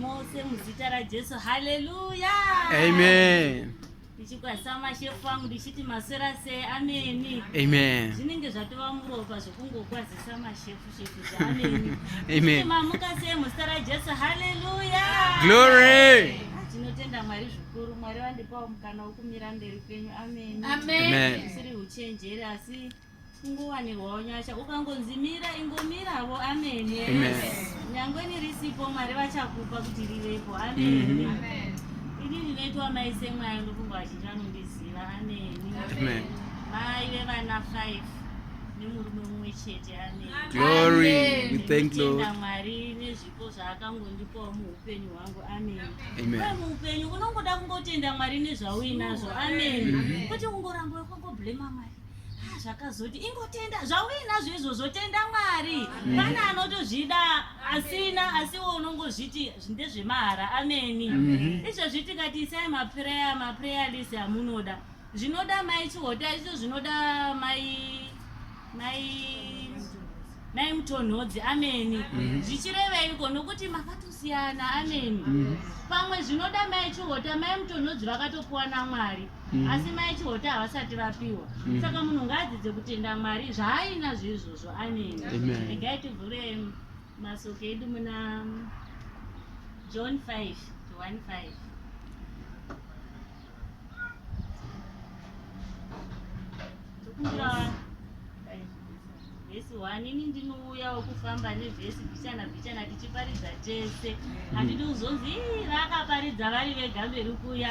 mose muzita rajesu haleluya amen ndichikwazisa mashefu angu ndichiti maswera sei ameni amen zvinenge zvatova muropa zvokungokwazisa mashefu shefu zvaameni amen mamuka sei muzita rajesu haleluya glory ah, tinotenda mwari zvikuru mwari vandipawo mukana wokumira mberi kwenyu ameni ameni usiri uchenjeri asi kungowanirwawo nyasha ukangonzi mira ingomiravo amene nyangwe nirisipo mwari vachakupa kuti rivepo amene ini ndinoitwa mai semwayo ndofunga vazhinji vanondiziva ameni mai vevana five nemurume mumwe chete ameenda mwari nezvipo zvaakangondipawo muupenyu hwangu ameni uye muupenyu unongoda kungotenda mwari nezvauinazvo ameni kwete kungoramba wekungoblema mwari Ah, zvakazoti ingotenda zvauinazvo izvozvo tenda mwari mm. pane anotozvida asina asiwo unongozviti ndezvemahara ameni mm-hmm. izvozvi tikati isai mapreya mapreya list amunoda zvinoda mai chihota izvo zvinoda mai mai Nai mutonhodzi ameni mhm. zvichireveiko nokuti makatosiyana ameni mhm. pamwe zvinoda mai chihota mai mutonhodzi vakatopiwa namwari mhm. asi mai chihota havasati vapiwa saka munhu ngaadzidze kutenda mwari zvaaina zveizvozvo ameni regai tivhure masoko edu muna john 5 to 15 Thank you. vhesi one ini ndinouyawo kufamba nevhesi bhichana bhichana tichiparidza tese handidi kuzonzi vakaparidza vari vega mberi kuya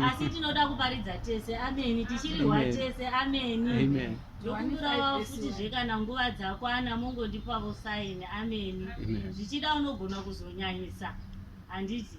asi tinoda kuparidza tese ameni tichirihwa tese ameni ndokumbirawo futi zve kana nguva dzakwana mongondipawo saini ameni zvichida unogona kuzonyanyisa handiti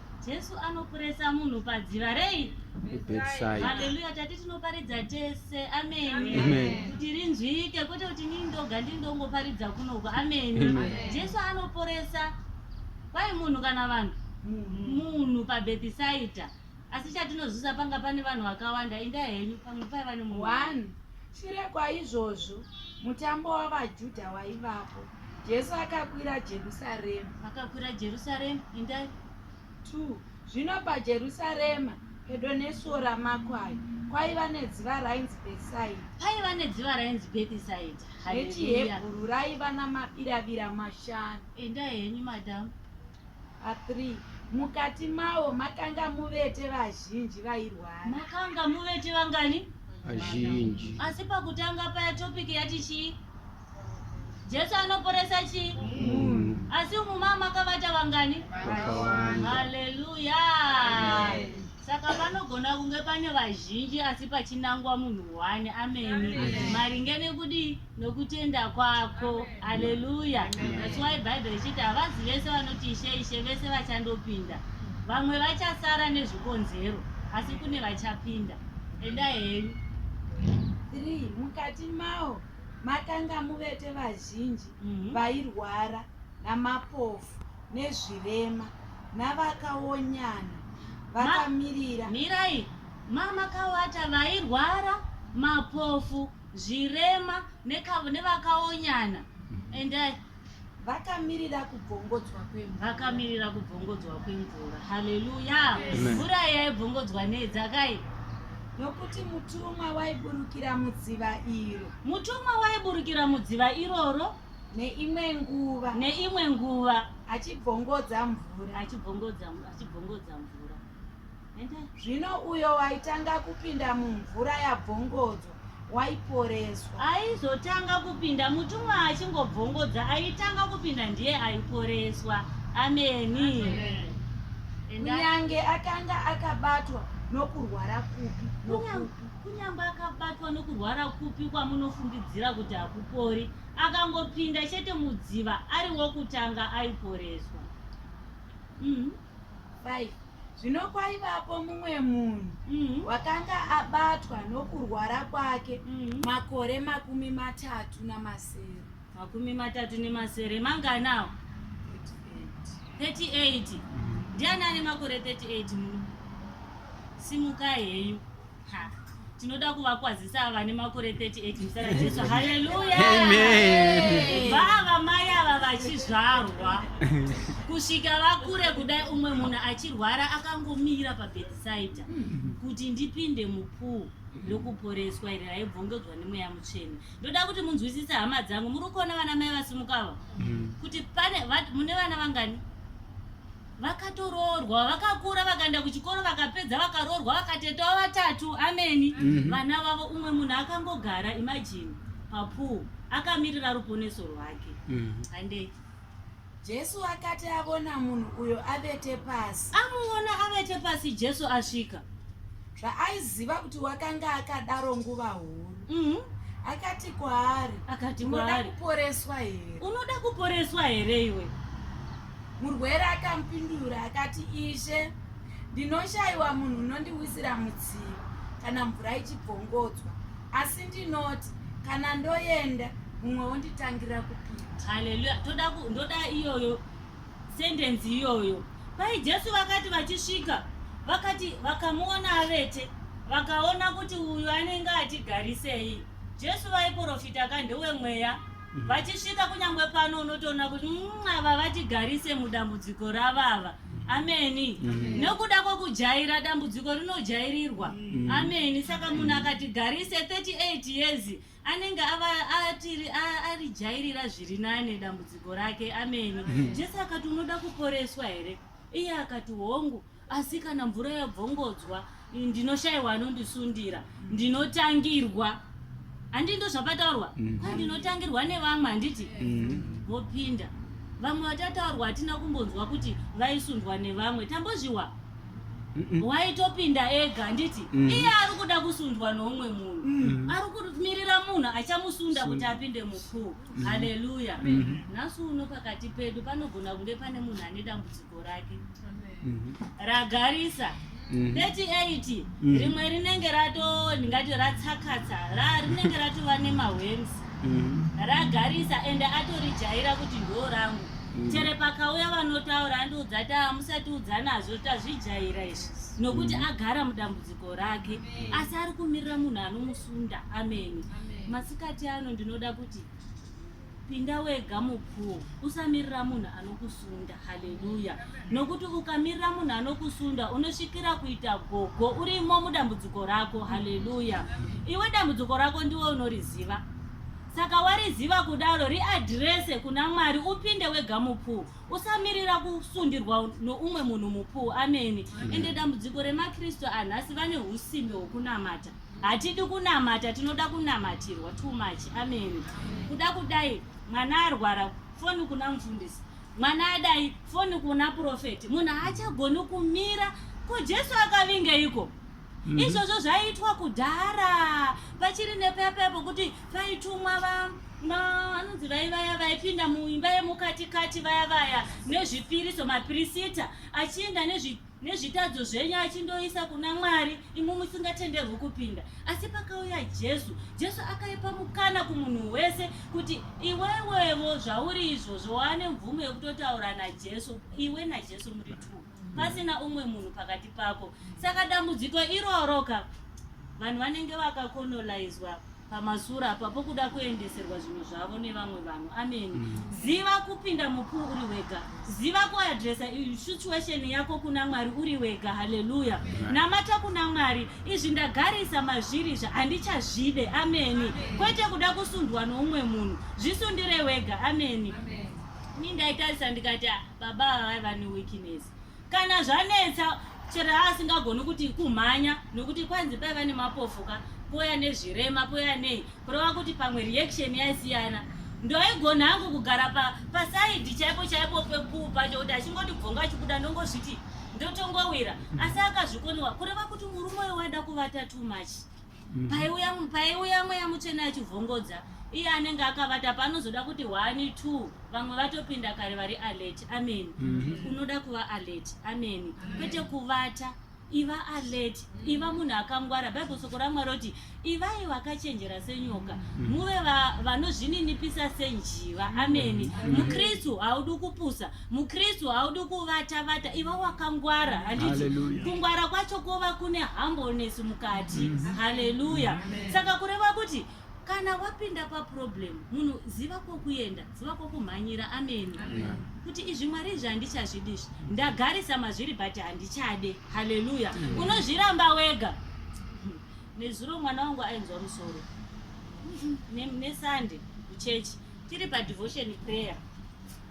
Jesu anopuresa munhu padziva rei? Haleluya, tati tinoparidza tese. Ameni. Kuti rinzwike kwete kuti nini ndoga ndiri ndongoparidza kunoko. Ameni. Jesu anoporesa kwai munhu kana vanhu munhu pabhethisaita asi chatinozvisa panga pane vanhu vakawanda inda henyu pamwe paiva nemunhu shure kwaizvozvo mutambo wavajudha waivapo Jesu akakwira Jerusarema. Akakwira Jerusarema, indai. 2 zvino pajerusarema pedo nesuo ramakwai kwaiva nedziva rainzi bhetisaidha paiva nedziva rainzi bhetisaidha rechihebhuru raiva namabiravira mashanu enda henyu madhamu a3 mukati mawo makanga muvete vazhinji vairwara makanga muvete vangani vazhinji asi pakutanga paya topiki yati chii Jesu anoporesa chi mm. asi umu mama makavata vangani haleluya saka panogona kunge pane vazhinji asi pachinangwa munhu one ameni maringe nekudii nokutenda kwako haleluya that's why bible ichiti havazi vese vanoti ishe ishe vese vachandopinda vamwe vachasara nezvikonzero asi kune vachapinda endai henyu 3 mukati mawo Matangamuvete vazhinji vairwara namapofu nezvirema navakaonyana vakamirira. Ma, mirai mamakawata vairwara mapofu zvirema nevakaonyana and I, Vakamirira kubvongodzwa kwemvura. Vakamirira kubvongodzwa kwemvura. Haleluya. Mvura yaibvongodzwa nei dzakai? Nokuti mutumwa waiburukira mudziva iro. Mutumwa waiburukira mudziva iroro neimwe nguva. Neimwe nguva achibvongodza mvura. Achibvongodza achibvongodza mvura. Zvino uyo waitanga kupinda mumvura yabvongodzo waiporeswa. Aizotanga kupinda mutumwa achingobvongodza aitanga kupinda ndiye aiporeswa. Ameni. Kunyange akanga akabatwa nokurwara kupi nokupi. Kunyange akabatwa nokurwara kupi kwamunofungidzira kuti hakupori, akangopinda chete mudziva ari wokutanga aiporeswa. Mm. 5 zvino kwaivapo mumwe munhu mm. wakanga abatwa nokurwara kwake mm. makore makumi matatu namasere makumi matatu nemasere manganawo 38 ndiani ane makore 38 muno simukai heyu tinoda kuvakwazisa ava vane makore 38 muzita rajesu haleluya vava mai ava vachizvarwa kusvika vakure kudai umwe munhu achirwara akangomira pabhetisaidha kuti ndipinde mupuu ndokuporeswa iri raibvongedzwa nemweya mutsvene ndoda kuti munzwisise hama dzangu muri kuona vana mai vasimukava mm. kuti pane mune vana vangani vakatoroorwa vakakura vakaenda kuchikoro vakapedza vakaroorwa vakatetawo vatatu ameni mm -hmm. vana vavo umwe munhu akangogara imajini papuu akamirira ruponeso rwake mm -hmm. andei jesu akati avona munhu uyo avete pasi amuona avete pasi jesu asvika zvaaiziva kuti wakanga akadaro nguva huru mm -hmm akati kwaari akati kwaari unoda kuporeswa here unoda kuporeswa here iwe Murwere akamupindura akati, Ishe, ndinoshayiwa munhu unondiwisira mudziyo kana mvura ichibvongodzwa, asi ndinoti kana ndoenda mumwe wonditangira kupinda. Haleluya. Toda ku, ndoda iyoyo sentenzi iyoyo. Pai Jesu vakati vachisvika, vakati vakamuona avete, vakaona kuti uyu anenge atigarisei. Jesu vaiporofita ka ndewemweya mm. vachisvika kunyangwe pano unotoona kuti mm, ava vatigarise mudambudziko ravava ameni mm. nokuda kwokujaira dambudziko rinojairirwa mm. ameni saka munhu mm. akatigarise 38 years anenge arijairira zviri nane dambudziko rake ameni mm. jesu akati unoda kuporeswa here iye akati hongu asi kana mvura yabvongodzwa ndinoshaiwa anondisundira ndinotangirwa handi ndo zvapataurwa mm. kwa ndinotangirwa nevamwe handiti mm. vopinda vamwe vatataurwa hatina kumbonzwa kuti vaisundwa nevamwe tambozviwa waitopinda ega handiti mm. iye ari kuda kusundwa noumwe munhu mm. ari kumirira munhu achamusunda kuti apinde mukuu mm. haleluya nhasi uno pakati pedu panogona kunge pane munhu ane dambudziko rake mhm. ragarisa 38 mhm. mhm. rimwe rinenge rato ndingati ratsakatsa rinenge ratova nemahwems ragarisa ende atorijaira kuti ndo rangu chere pakauya vanotaura andiudza ti hamusati udza nazvo tazvijaira izvi nokuti agara mudambudziko rake asi ari kumirira munhu anomusunda ameni masikati ano ndinoda kuti Pinda wega mupool, usamirira munhu anokusunda. Haleluya! Nokuti ukamirira munhu anokusunda, unosvikira kuita gogo urimo mudambudziko rako. Haleluya! Iwe dambudziko rako ndiwe unoriziva. Saka wariziva kudaro, riadhirese kuna Mwari, upinde wega mupool. Usamirira kusundirwa noumwe munhu mupool. Ameni. Ende dambudziko remaKristu anhasi vane usimbe hwokunamata. Hatidi kunamata tinoda kunamatirwa too much amen kuda kudai mwana arwara foni kuna mufundisi mwana adai foni kuna profeti munhu haachagoni kumira ko jesu akavingeiko mm -hmm. izvozvo zvaiitwa kudhara pachiri nepepe pokuti paitumwa va vanonzi vai vaya vaipinda muimba yemukatikati vaya vaya nezvipiriso mapirisita achienda nezvi nezvitadzo zvenyu achindoisa kuna mwari imwe musingatenderwi kupinda asi pakauya jesu jesu akaipa mukana kumunhu wese kuti iwewevo zvauri izvozvo waane mvumo yekutotaura najesu iwe najesu muri two pasina umwe munhu pakati pako saka dambudziko iroro ka vanhu vanenge vakakonolaizwa pamasure apa pokuda kuendeserwa zvinhu zvavo nevamwe vanhu ameni mm. ziva kupinda mupuu uri wega ziva kuadresa situation yako kuna mwari uri wega haleluya namata kuna mwari izvi ndagarisa mazviri zva handichazvide ameni kwete kuda kusundwa noumwe munhu zvisundire wega ameni mi ndaitarisa ndikati ah, baba ava vaiva neweakness kana zvanetsa chero asingagoni kuti kumhanya nokuti kwanzi paiva nemapofuka poya nezvirema poya nei kureva kuti pamwe reaction yaisiyana ndoigona hangu kugara pasaidi chaipo chaipo pekuu pacho kuti achingoti bvonga achibuda ndongozviti ndotongowira asi akazvikoniwa kureva kuti murume uyo waida kuvata too much Mhm. paiuya paiuya mweya mutsvene achivhongodza iye anenge akavata paanozoda kuti one two vamwe vatopinda kare vari alert amen Mhm. unoda kuva alert amen kwete kuvata iva alert iva munhu akangwara bible soko ramwari roti ivai vakachenjera senyoka muve va- vanozvininipisa senjiva amen mukristu haudi kupusa mukristu haudi kuvata vata iva wakangwara handiti kungwara kwacho kwova kune humbleness mukati mm -hmm. haleluya mm -hmm. saka kureva kuti kana wapinda paproblem munhu ziva kwokuenda ziva kwokumhanyira ameni kuti izvi mwari izvi handichazvidi izvi ndagarisa mazviri but handichade haleluya unozviramba wega nezuro mwana wangu ainzwa musoro nesande kuchechi tiri padevotion prayer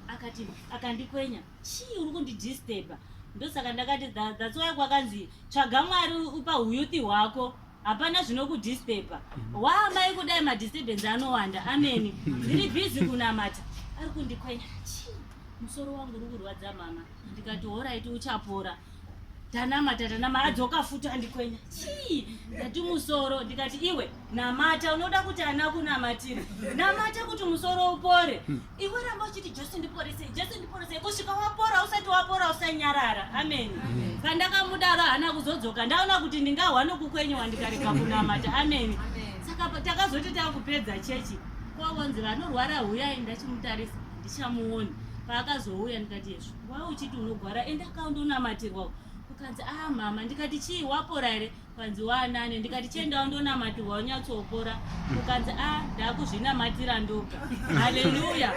akati akandikwenya chii uri kundidisturba ndosaka ndakati that's why kwakanzi tsvaga mwari upa huyuthi hwako hapana zvinokudisturba mhm. waamai kudai madisturbance anowanda ameni ndiri bhizi kunamata ari kundikwenya chii musoro wangu uri kurwadza mama ndikati horaiti uchapora tanamata tanamata adzoka futi andikwenya chii ndati musoro ndikati iwe namata unoda kuti ana kunamatira namata kuti musoro upore hmm. iwe ramba uchiti jesu ndiporesei jesu ndiporesei kusvika wapora usati wapora usanyarara ameni pandakamudaro hana kuzodzoka ndaona kuti ndingahwa nokukwenyewa ndikarega kunamata ameni saka takazoti takupedza chechi kwavonzi vanorwara huyai ndachimutarisa ndichamuoni paakazouya ndikati yezvo Why uchiti unogwara enda ka undonamatirwa ukanzi ah mama ndikati chii wapora here ukanzi waanane ndikati chiendawo ndonamatirwa unyatsopora ukanzi ah ndakuzvinamatira ndoga haleluya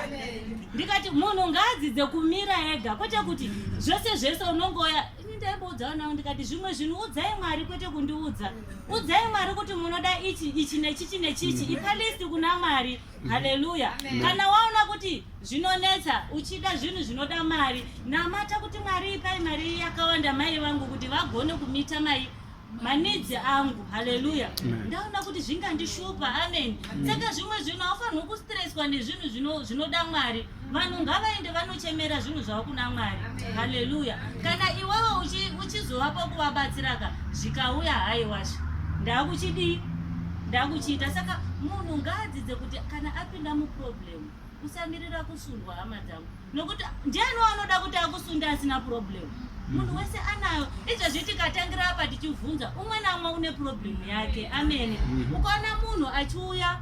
ndikati munhu ngaadzidze kumira ega kwete kuti zvese zvese unongoya ndaimboudzawo nawo ndikati zvimwe zvinhu udzai mwari kwete kundiudza udzai mwari kuti munoda ichi ichi nechichi nechichi mm. ipa list kuna mwari haleluya kana waona kuti zvinonetsa uchida zvinhu zvinoda mari namata kuti mwari ipai mari iyi yakawanda mai vangu kuti vagone kumita mai manidzi angu haleluya ndaona kuti zvingandishupa amen saka zvimwe zvinhu aufanirwi kustreswa nezvinhu zvinoda mwari vanhu ngavaende vanochemera zvinhu zvavo kuna mwari haleluya kana iwewe uchizovapo kuvabatsiraka zvikauya haiwasha ndakuchidii ndakuchiita saka munhu ngaadzidze kuti kana apinda muproblem usamirira kusundwa hama dzangu nokuti ndiani wanoda kuti akusunda asina problem munhu mhm. wese anayo izvezvi tikatangira apa tichibvunza umwe naumwe une problem yake amene mhm. ukaona munhu achiuya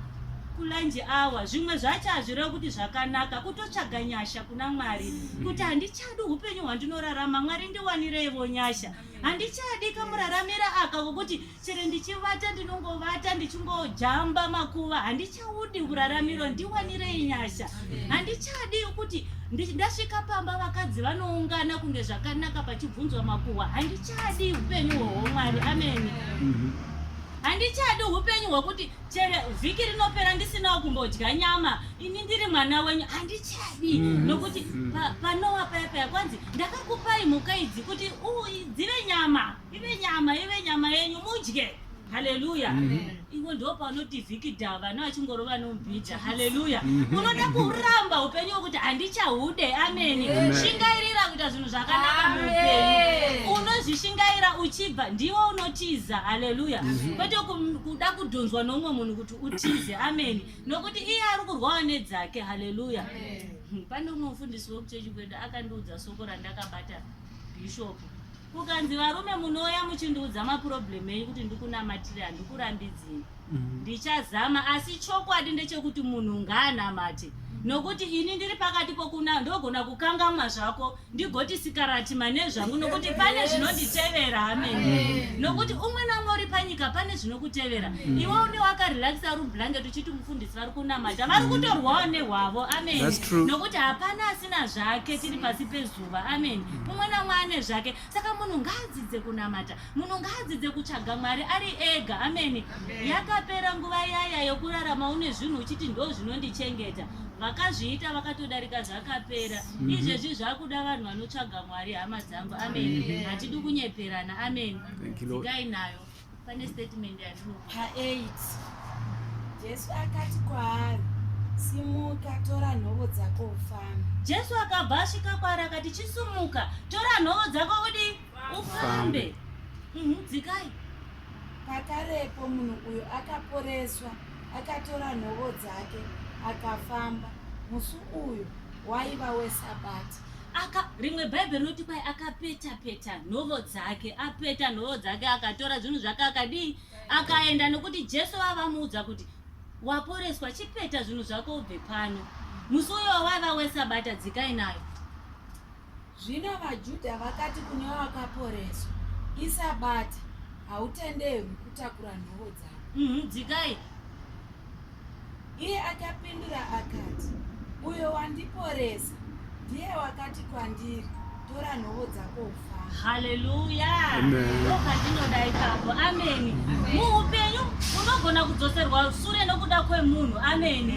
kulunch hour zvimwe zvacho hazvirevi kuti zvakanaka kutotsvaga nyasha kuna mwari mm. kuti handichadi upenyu hwandinorarama mwari ndiwanireivo nyasha handichadi kamuraramira aka kokuti chero ndichivata ndinongovata ndichingojamba makuva handichaudi uraramiro ndiwanirei nyasha mm. handichadi kuti ndasvika pamba vakadzi vanoungana kunge zvakanaka pachibvunzwa makuhwa handichadi upenyu hwohomwari ameni mm-hmm. handichadi upenyu hwokuti chero vhiki rinopera ndisinawo kumbodya nyama ini ndiri mwana wenyu handichadi mm. nokuti mm. panowa paya paya kwanzi ndakakupai mhuka idzi kuti dzive nyama ive nyama ive nyama yenyu mudye haleluya mm-hmm. ivo ndo paunoti vhiki dhava no achingorova nomubhija haleluya mm-hmm. unoda kuramba upenyu wekuti handichahude ameni shingairira kuita zvinhu zvakanaka muupenyu unozvishingaira uchibva ndiwo unotiza haleluya mm-hmm. kwete kuda kudhunzwa noumwe munhu kuti utize amen nokuti iye ari kurwawa nedzake haleluya hmm, pane umwe mufundisi wekuchechi kwedu akandiudza soko randakabata bhishopu kukanzi varume munouya muchindiudza maproblem enyu kuti ndikunamatire handikurambidzini mm. ndichazama asi chokwadi ndechekuti munhu ngaanamate nokuti ini ndiri pakati pokuna ndogona kukangamwa zvako ndigoti sikarati mane zvangu nokuti pane zvinonditevera amen mm. nokuti umwe namwe uri panyika pane zvinokutevera mm. iwe une wakarelaxa rublanket uchiti mufundisi vari kunamata vari kutorwawo nehwavo amen nokuti hapana asina zvake tiri pasi pezuva amen mm. umwe namwe ane zvake saka munhu ngaadzidze kunamata munhu ngaadzidze kutsvaga mwari ari ega amen yakapera nguva yaya yokurarama une zvinhu uchiti ndo zvinondichengeta vakazviita vakatodarika zvakapera mm -hmm. izvezvi zvakuda vanhu vanotsvaga mwari hama dzangu amen mm -hmm. hatidi kunyeperana amen dzikai nayo pane statement yandinopa 8 jesu akati kwaari simuka tora nhovo dzako ufambe jesu akabva asvika kwaari akati chisumuka tora nhovo dzako udi ufambe mhm, dzikai mm -hmm pakarepo munhu uyu akaporeswa akatora nhovo dzake akafamba musi uyu waiva wesabati aka rimwe bhaibheri rinoti kwai akapeta peta nhovo dzake apeta nhovo dzake akatora zvinhu zvake akadii akaenda nokuti jesu vavamuudza kuti waporeswa chipeta zvinhu zvako ubve pano musi uyo wavaiva wesabata dzikai nayo Zvino vaJudha vakati kune vakaporeswa, Isabata, hautenderwi kutakura nhovo dzako. Mhm, dzikai. Iye akapindura akati, Uyo wandiporesa ndiye wakati kwandiri, Tora nhovo dzako ufambe. haleluya Amen. ndokatinoda ipapo ameni muupenyu unogona kudzoserwa sure nokuda kwemunhu ameni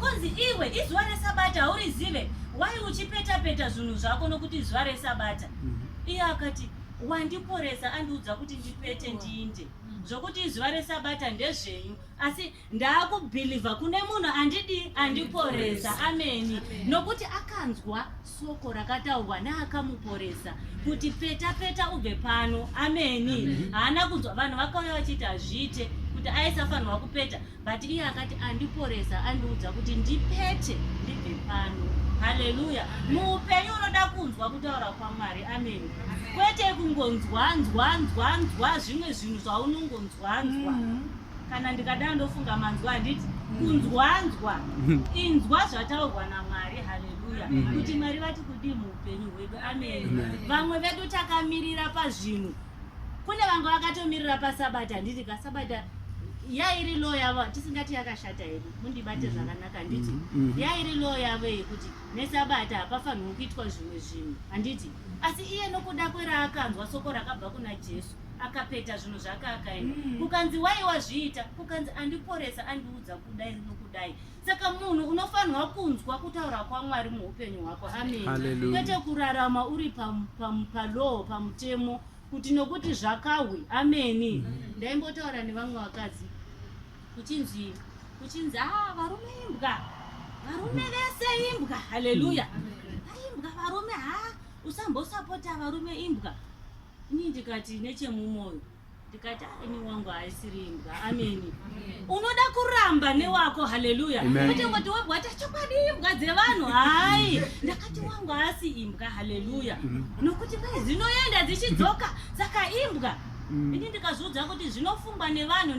kunzi iwe izuva resabata haurizive why uchipeta peta zvinhu zvako nokuti zuva resabata mhm. iye akati wandiporesa andiudza kuti ndipete ndiinde mhm. zvokuti izuva resabata ndezvenyu asi ndaakubhilivha kune munhu andidii andiporesa ameni nokuti akanzwa soko rakataurwa naakamuporesa kuti peta peta ubve pano ameni haana kunzwa vanhu vakauya vachiti hazviite kuti aisafanirwa kupeta But iye akati andiporesa andiudza kuti ndipete ndibve pano. Haleluya. Muupenyu unoda kunzwa kutaura kwaMwari. Amen. Kwete kungonzwa nzwa nzwa nzwa zvimwe zvinhu zvaunongonzwa nzwa. Mm-hmm. Kana ndikadaro ndofunga manzwa handiti kunzwa nzwa mm-hmm. inzwa zvataurwa naMwari. Haleluya. Mm-hmm. Kuti Mwari vati kudii muupenyu hwedu. Amen. Vamwe vedu takamirira pazvinhu kune vanga vakatomirira pasabata handiti ka sabata yairi law yavo tisingati yakashata here mundibate mm-hmm. zvakanaka handiti mm-hmm. Mm-hmm. yairi law yavo yekuti nesabata hapafanirwi kuitwa zvimwe zvinhu handiti asi iye nokuda kweraakanzwa soko rakabva kuna jesu akapeta zvinhu zvake akaenda kukanzi waiwa zviita kukanzi andiporesa andiudza kudai nokudai saka munhu unofanirwa kunzwa kutaura kwamwari muupenyu hwako amen kwete kurarama uri palaw pamutemo kuti nokuti zvakahwe ameni ndaimbotaura nevamwe vakadzi kuchinzi kuchinzi a ah, varume imbwa varume vese imbwa haleluya aimbwa varume ha usambosapota varume imbwa ini ndikati nechemumwoyo ndikati aini wangu haisiri imbwa ameni unoda kuramba newako haleluya kuti ngoti wabwa ati chokwadi imbwa dzevanhu hayi ndakati wangu haasi imbwa haleluya nokuti kwai dzinoenda dzichidzoka saka imbwa mm. ini ndikazviudza kuti zvinofungwa nevanhu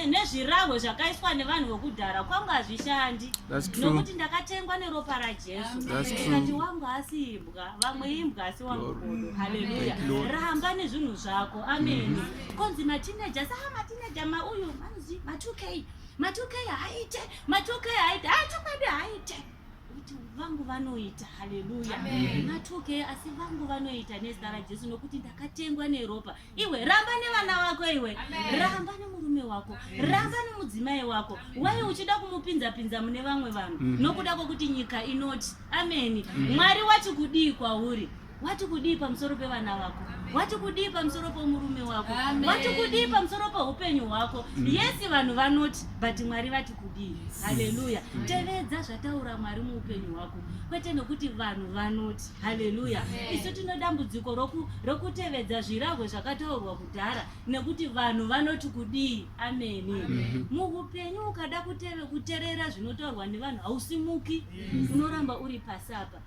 nezvirahwe zvakaiswa nevanhu vekudhara kwangu hazvishandi nokuti ndakatengwa neropa rajesu ndikati wangu haasi imbwa vamwe imbwa asi wangokodo haleluya ramba nezvinhu zvako ameni mm-hmm. konzi matineja saa ah, matineja mauyu manzi ma2k ma2k haaite ma2k haaite haa ah, chokwadi haaite kuti vangu vanoita haleluya ma2k asi vangu vanoita nezita rajesu nokuti ndakatengwa neropa iwe ramba nevana vako iwe ramba nemurume wako ramba nemudzimai wako wai uchida kumupinza pinza mune vamwe vanhu mm. nokuda kwekuti nyika inoti ameni mm. mwari wati kudii kwauri wati kudii pamusoro pevana vako wati kudii pamusoro pomurume wako wati kudii pamusoro poupenyu hwako mm. yesi vanhu vanoti but mwari vati kudii haleluya tevedza zvataura mwari muupenyu hwako kwete nokuti vanhu vanoti haleluya isu tino dambudziko rokutevedza zvirahwe zvakataurwa kudhara nekuti vanhu vanoti kudii ameni muupenyu ukada kuteve kuterera zvinotaurwa nevanhu hausimuki unoramba uri pasi apa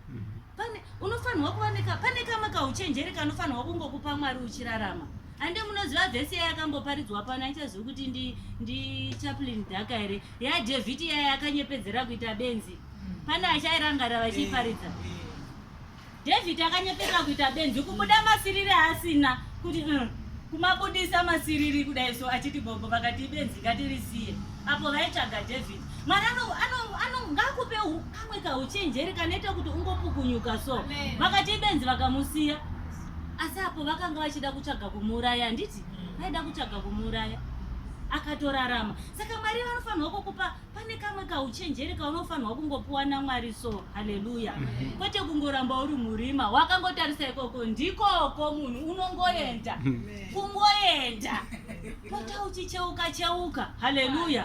pane unofanirwa kuvanika pane kamwe kauchenjeri kanofanirwa kungokupa mwari uchirarama hande munoziva vhesi yaya yakamboparidzwa pano aichazivi kuti ndi chaplin dhaka here yadevhiti yaya yakanyepedzera kuita benzi pane achairangarira vachiiparidza david akanyepera kuita benzi kubuda masiriri asina kuti mm, kumabudisa masiriri kudai so achiti gogo vakati ibenzi ngatirisiye apo vaitsvaga david mwari ngakupe kamwe kauchenjeri kanoita kuti ungopukunyuka so vakati ibenzi vakamusiya asi apo vakanga vachida kutsvaga kumuuraya handiti vaida kutsvaga kumuuraya akatorarama saka mwari vanofanirwa kukupa pane kamwe kauchenjeri kaunofanirwa kungopiwa namwari so haleluya mhm. kwete kungoramba uri murima wakangotarisa ikoko ndikoko munhu unongoenda mhm. kungoenda pota uchicheuka cheuka haleluya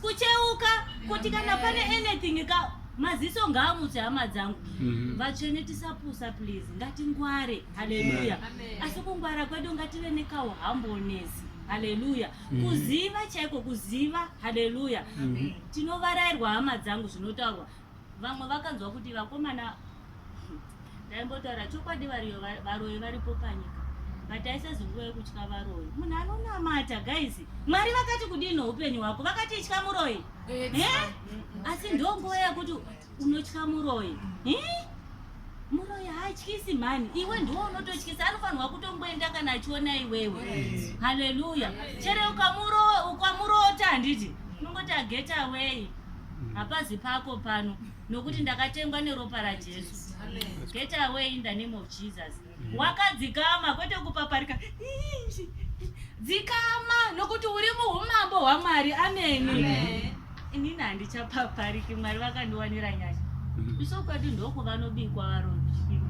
kucheuka kuti kana pane anything ka maziso ngaamutse hama dzangu mhm. vatsvene tisapusa please ngatingware haleluya asi kungwara kwedu ngative nekauhambonesi haleluya mm. kuziva chaiko kuziva haleluya mm. tinovarairwa hama dzangu zvinotaurwa vamwe vakanzwa kuti vakomana ndaimbotaura chokwadi variyo varoyi varipo panyika but aisazi nguva yekutya varoyi munhu anonamata guys mwari vakati kudini upenyu hwako vakati itya muroyi asi ndonguva yekuti Unotya muroyi. Eh? Muroyi haatyisi mhani. Iwe ndiwo unototyisa anofanirwa kutongoenda kana achiona iwewe. Yes. Hallelujah. Yes. Chere ukamuro ukamurota handiti? Unongoti get away. Mm. Hapazi pako pano nokuti ndakatengwa neropa raJesu. Get away in the name of Jesus. wakadzikama kwete kupaparika dzikama nokuti uri muumambo hwamwari ameni inini handichapapariki mwari vakandiwanira nyasha mm-hmm. iso kwedu ndoku vanobikwa varovi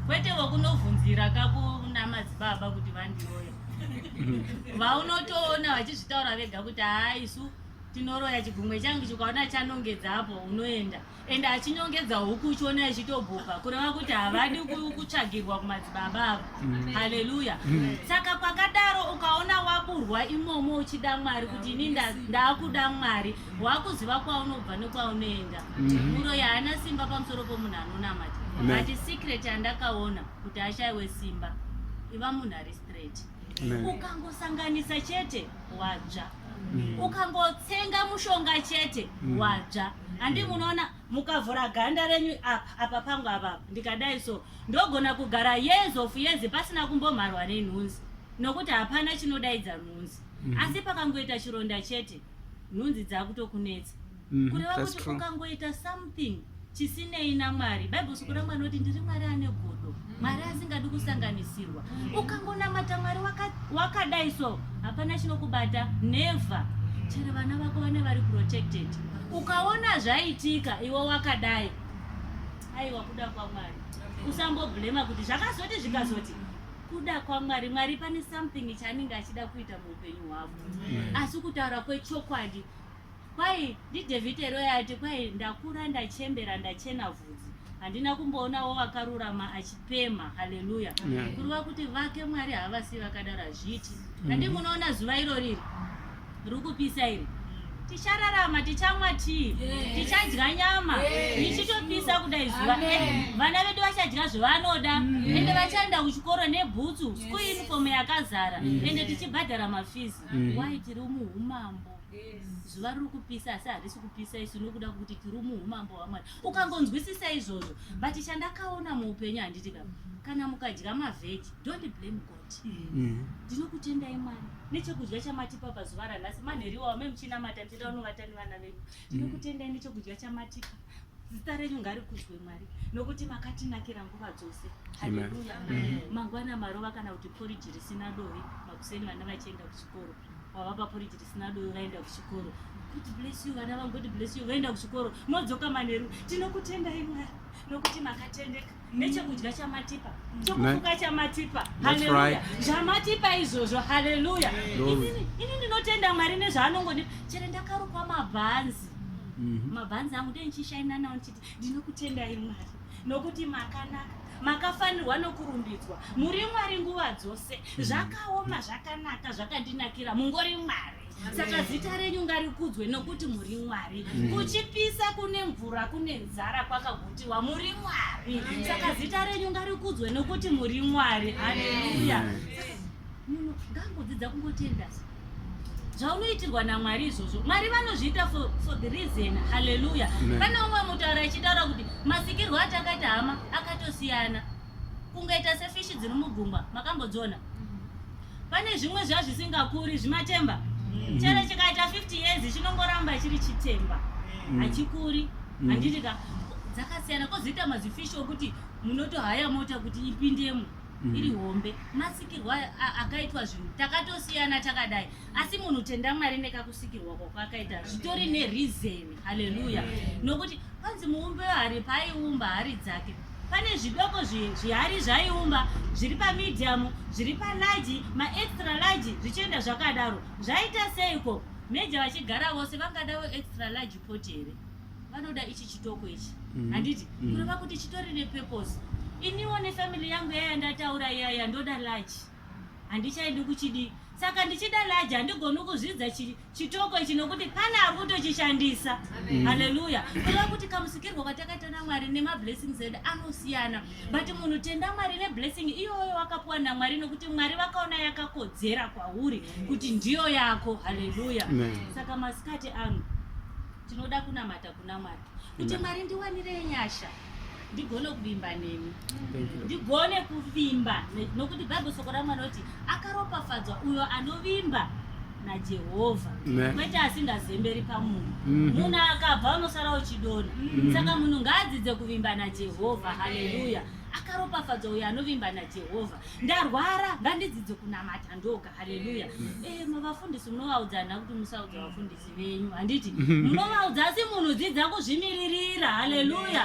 kwete vokunovhunzira kakuna madzibaba kuti vandiroya mm-hmm. vaunotoona vachizvitaura vega kuti haa isu tinoroya chigumwe changu chikaona chanongedzapo unoenda ende achinyongedza huku uchiona ichitobhuka kureva kuti havadi kutsvagirwa kumadzibaba avo mm. haleluya mm. saka kwakadaro ukaona waburwa imomo uchida mwari kuti ini ndaakuda mwari wakuziva kwaunobva nekwaunoenda mm-hmm. muro yaana simba pamusoro pomunhu anonamata but secret yandakaona kuti ashaiwe simba iva munhu ari straight ukangosanganisa chete wadzva mm. ukangotsenga mushonga chete mm. wadzva handi mm. munoona mukavhura ganda renyu apa apa pangu apapa ndikadai so ndogona kugara years of years pasina kumbomharwa nenhunzi nokuti hapana chinodaidza nhunzi mm. asi pakangoita chironda chete nhunzi dzakutokunetsa mm, kureva kuti ukangoita something chisinei namwari bible soko ramwari noti ndiri mwari ane godo mwari asingadi kusanganisirwa mm. ukangonamata mwari wakadai so hapana chinokubata never chero vana vako vane vari protected ukaona zvaitika iwe wakadai aiwa kuda kwamwari usamboblema kuti zvakazoti zvikazoti kuda kwamwari mwari pane something chaanenge achida kuita muupenyu hwavo mm. asi kutaura kwechokwadi Kwai ndiDevite Roy ati kwai ndakura ndachembera ndachena vhudzi handina kumboonawo vakarurama achipemha haleluya yeah. kureva kuti vake mwari havasi vakadaro hazviiti mm. handi mm. munoona zuva iro riri riri kupisa iri tichararama tichamwa tii yes. tichadya nyama tichitopisa yes. kudai zuva vana vedu vachadya zvavanoda mm. ende vachaenda kuchikoro nebhutsu yes. school uniform yakazara mm. ende tichibhadhara mafizi mm. why tiri muumambo zuva riri kupisa asi harisi kupisa isu nokuda kwekuti tiri muumambo hwamwari ukangonzwisisa izvozvo but chandakaona muupenyu handiti ka kana mukadya mavheji dont blame god mm. ndinokutendai mwari nechekudya chamatipa pazuva ranhasi manheriwa wame muchinamata ndichida unovata nevana vedu mm. ndinokutendai nechekudya chamatipa zita renyu ngarikudzwe mwari nokuti makatinakira nguva dzose haleluya mm-hmm. mangwana marova kana kuti poriji risina dovi makuseni vana vachienda kuchikoro Baba paporiti risina doro vaenda kuchikoro. God bless you vana vangu, God bless you vaenda kuchikoro. Modzoka manheru. Tinokutendai Mwari nokuti makatendeka. Mm. Nechekudya chamatipa, mm. chokufuka chamatipa. Haleluya. Zvamatipa izvozvo. Haleluya. Ini ndinotenda Mwari nezvaanongonipa. Chero ndakarukwa mabhanzi. Mm-hmm. Mabhanzi angu ndee nchishaina nawo Ndinokutendai Mwari nokuti makanaka makafanirwa nokurumbidzwa muri mwari nguva dzose mm. zvakaoma zvakanaka zvakandinakira mungori mwari saka zita renyu ngarikudzwe nokuti muri mwari mm. kuchipisa kune mvura kune nzara kwakagutiwa muri mwari saka zita renyu ngarikudzwe nokuti muri mwari haleluya munhu ngangodzidza kungotendasa zvaunoitirwa namwari izvozvo mwari vanozviita for, for the reason haleluya pane umwe mutaura achitaura kuti masikirwo atakaita hama akatosiyana kungaita sefishi dziri mugungwa makambodziona pane zvimwe zvazvisingakuri zvimatemba mm. chero chikaita 50 years chinongoramba chiri chitemba mm. hachikuri mm. handiti ka dzakasiyana kozoita mazifishi okuti munotohaya mota kuti ipindemo iri hombe masikirwa akaitwa zvinhu takatosiyana takadai asi munhu tenda mwari nekakusikirwa kwakwakaita zvitori nerizeni haleluya nokuti kwanzi muumbi wehari paaiumba hari dzake pane zvidoko zvihari zvaiumba zviri pamediamu zviri palaji maextra laji zvichienda zvakadaro zvaita seiko meja vachigara vose vangadawo extra laji poti here vanoda ichi chitoko ichi mm-hmm. handiti mm-hmm. kureva kuti chitori nepurpose iniwo nefamily yangu yaya ndataura yaya ndoda laji handichaidi kuchidii saka ndichida laji handigoni kuzvidza chitoko ichi nokuti pane ari kutochishandisa haleluya kureva kuti kamusikirwo katakaita namwari nemablessings edu anosiyana but munhu tenda mwari neblessing iyoyo wakapiwa namwari nokuti mwari vakaona yakakodzera kwauri kuti ndiyo yako haleluya saka masikati ano tinoda kunamata kunamata kuti mwari ndiwanire nyasha ndigone kuvimba nemi ndigone kuvimba nokuti bhaibheri soko ramwari kuti akaropafadzwa uyo anovimba najehovha kwete asingazemberi pamunhu mhm. munhu akabva unosara uchidona mhm. saka munhu ngaadzidze kuvimba najehovha haleluya akaropafadzwa uyo anovimba najehovha ndarwara ngandidzidze kunamata ndoga haleluya eh, mavafundisi munovaudza nhava kuti musaudza vafundisi venyu handiti munovaudza asi munhu dzidza kuzvimiririra haleluya